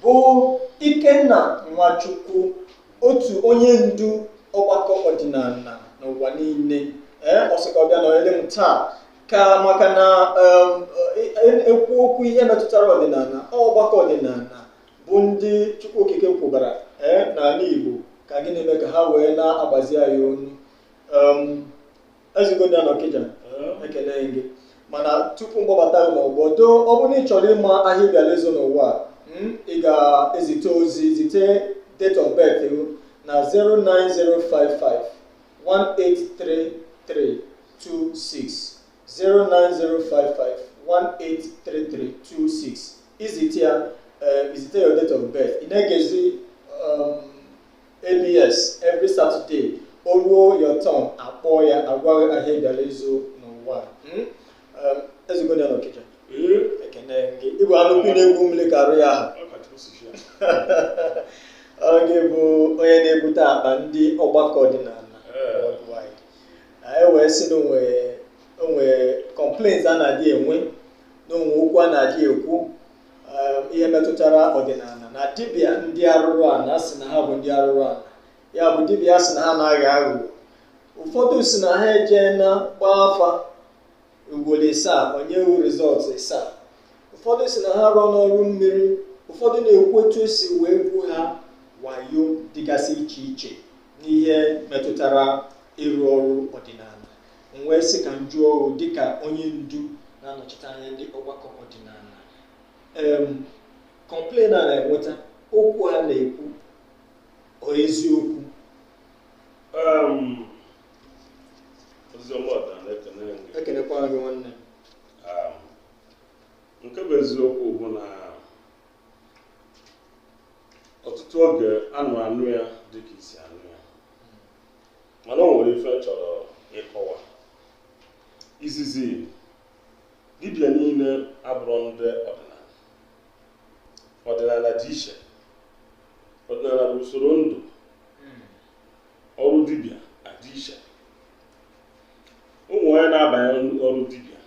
bụ Ikenna Nwachukwu otu onye ndu ọgbakọ ọdịnala n'ụwa niile ee ọ sị ka ọ bịa nọnyere m taa ka maka na um, e- e- ekwu okwu ihe metụtara ọdịnala ọ ọgbakọ ọdịnala bụ ndị Chukwu Okike kwụbara ee n'ala Igbo ka gịnị mee ka ha wee na-agbazi anyị onu um, ezigoda na Okija ekene gị mana tupu m kpọbata gị n'ọgbọ doo ọ bụrụ na ị chọrọ ịma ahịa ị bịara ịzụ n'ụwa a, mm, ị ga-ezite ozi zite date of birth gị na 09055 183326 09055 183326 i zite ya eh, i zite your date of birth ị na-egezi um, ABS every Saturday o ruo your turn a kpọọ ya a gwa gị ahịa ị bịara ịzụ n'ụwa hmm? um, ezigbo ya n'Okija ekene gị ị bụ anụ ukwu na-egwu mmiri ka arụ ya ahụ gị bụ onye na-ebute akpa ndị ọgbakọ ọdịnala worldwide anyị wee sị na o nwe complaints a na-adị enwe na o nwe okwu a na-adị ekwu um, ihe metụtara ọdịnala na dibịa ndị arụrụ ala sị na ha bụ ndị arụrụ ala ya bụ dibịa sị na ha na-aghọ aghụghọ ụfọdụ sị na ha ejena gbaa afa ugboro isaa o nye wu result isaa ụfọdụ sị na ha arụọna ọrụ mmiri ụfọdụ na-ekwu etu e si wee gwu ha wayo dịgasị iche iche n'ihe metụtara ịrụ ọrụ ọdịnala m wee sị ka m jụọ o dịka onye ndu na-anọchite anya ndị ọgbakọ ọdịnala em complain a na-enweta okwu a na-ekwu ọ eziokwu Um, oziọma ọda na-ekene gị. ekenekwa gị nwanne m Um, nke bụ eziokwu bụ na ọtụtụ oge a na-anụ ya dịka i si anụ ya mana o nwere ife m chọrọ ịkọwa izizi dibịa niile abụrọ ndị ọdịnala ọdịnala dị iche ọdịnala bụ usoro ndụ ọrụ dibịa adị iche o nwe onye na-abanye ọrụ dibịa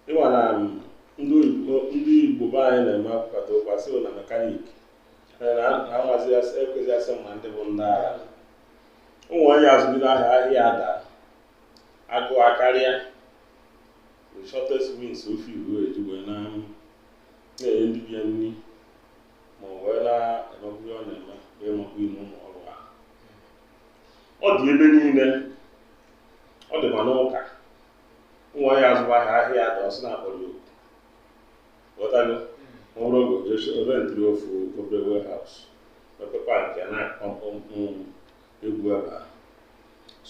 ị ma na ndị oyibo ndị Igbo be anyị na-eme akpata ụkwa sị na mekaniki na-amazi ekwezi asị ma ndị bụ ndị ala ụmụ nwaanyị azụgide ahịa ahịa adaa agụụ akarịa the shortest means ofe iwu eji wee na na-enye dibịa nri ma ọ wee na-emekwu ihe ọ na-eme wee makwa ime ụmụ ọrụ ha ọ dị ebe niile ọ dị ma n'ụka ụmụ nwaanyị azụba ahịa ahịa adaa ọ sị na a kpọrọ ya oku ghọtago ọ bụrụ ogo just rentịrị ofu obere warehouse ofe pankị ya na-akpọmpụ egwu ebe a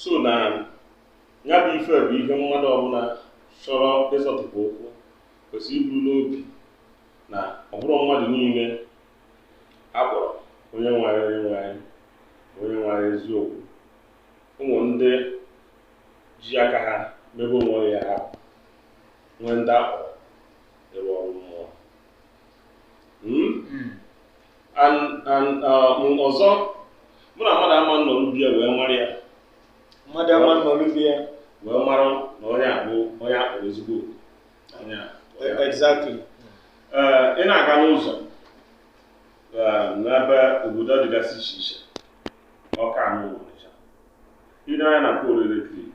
so na ya bụ ife bụ ihe mmadụ ọbụla chọrọ ịzọtụpụ ụkwụ kwesịrị iburu n'obi na ọ bụrọ mmadụ niile a kpọrọ onye nwere onye nwere onye nwere eziokwu nwere ndị ji aka ha mebe onwe ha nwee ndị a kpọrọ ịrụ ọrụ mmụọ hmm? Hmm. Uh, ọzọ bụ na mmadụ ama nọ n'obi ya wee mara ya mmadụ ama nọ n'obi ya wee mara na onye a bụ onye a kpọrọ ezigbo onye a exactly uh, ị na-aga n'ụzọ uh, n'ebe obodo dịgasị iche iche Ọka na Ọnịcha i nee anya na poolu eletrik